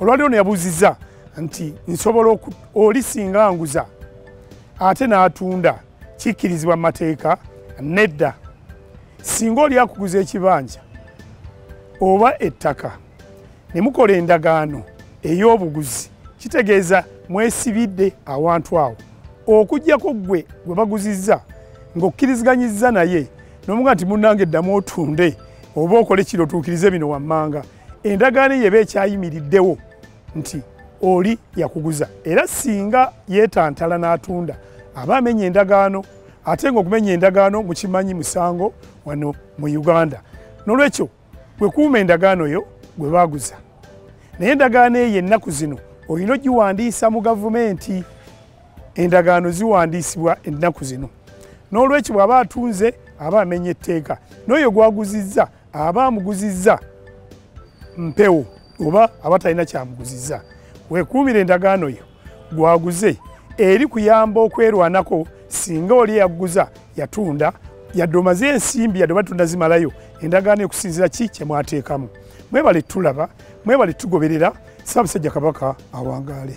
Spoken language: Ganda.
olwali ono yabuuziza nti nsobola oli singa nguza ate n'atunda kikkirizibwa mu mateeka nedda singa oli akuguza ekibanja oba ettaka ne mukola endagaano ey'obuguzi kitegeeza mwesibidde awantu awo okugyako ggwe gwe baguzizza ng'okkiriziganyizza naye nomuga nti munange eddamu otunde oba okole kiro otuukirize bino wammanga endagaano yeba ekyayimiriddewo nti oli yakuguza era singa yetantala n'atunda aba amenya endagaano ate nga okumenya endagaano mukimanyi musango wano mu uganda nolwekyo wekuuma endagaano yo gwe baguza naye endagaano eyo ennaku zino olina ogiwandiisa mu gavumenti endagaano ziwandiisibwa ennaku zino n'olwekyo bw'aba atunze aba amenya etteeka n'oyo gwaguzizza aba amuguzizza mpewo oba aba talina kyamuguzizza wekuumira endagaano yo gwaguze eri kuyamba okwerwanako singa oli eyaguza yatunda yadde omaze ensimbi yadde obatunda zimalayo endagaano ekusinzira ki kyemwateekamu mwebale tulaba mwebale tugoberera saabasajja kabaka awangaale